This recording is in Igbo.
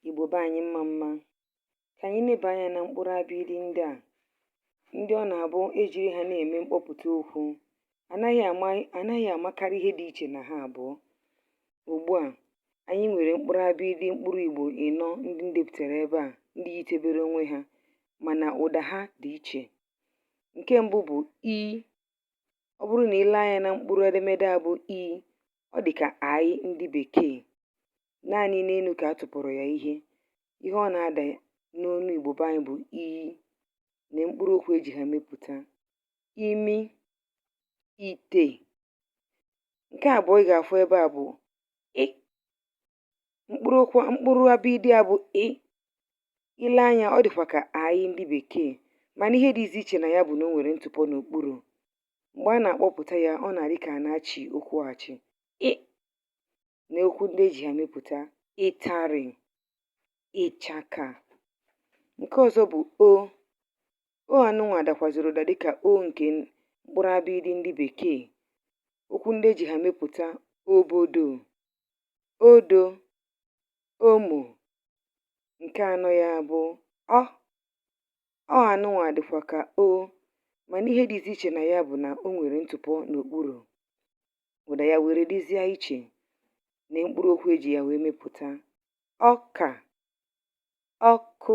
Igbo be anyị mma mma. Ka anyị neba anya na mkpụrụ abịịdị ndị a, ndị ọ na-abụ e jiri ha na-eme mkpọpụta okwu, anaghị amakarị ihe dị iche na ha abụọ. Ugbu a, anyị nwere mkpụrụ abịịdị mkpụrụ Igbo ịnọ ndị m depụtara ebe a, ndị yitebere onwe ha, mana ụda ha dị iche. Nke mbụ bụ i. Ọ bụrụ na i lee anya na mkpụrụ edemede a bụ i, ọ dị ka aị ndị Bekee. naanị n'enu ka a tụpụrụ ya ihe ihe ọ na-ada n'ọnụ Igbo be anyị bụ i na mkpụrụ okwu e ji ha mepụta imi ite nke abụọ ị ga-afụ ebe a bụ ị mkpụrụ abịịdị a bụ ị i lee anya ọ dịkwa ka aị ndị bekee mana ihe dịzi iche na ya bụ na o nwere ntụpọ n'okpuru mgbe a na-akpọpụta ya ọ na-adị ka a na-achị okwu achị ị na okwu ndị e ji ha mepụta ịtarị ịchaka nke ọzọ bụ o o anụnwa dakwazịrị ụda dịka o nke mkpụrụ abịịdị ndị bekee okwu ndị e ji ha mepụta obodo odo omo nke anọ ya bụ ọ ọ anụnwa dịkwa ka o mana ihe dịzi iche na ya bụ na o nwere ntụpọ n'okpuru ụda ya were dịzie iche na mkpụrụ okwu e ji ya wee mepụta ọka ọkụ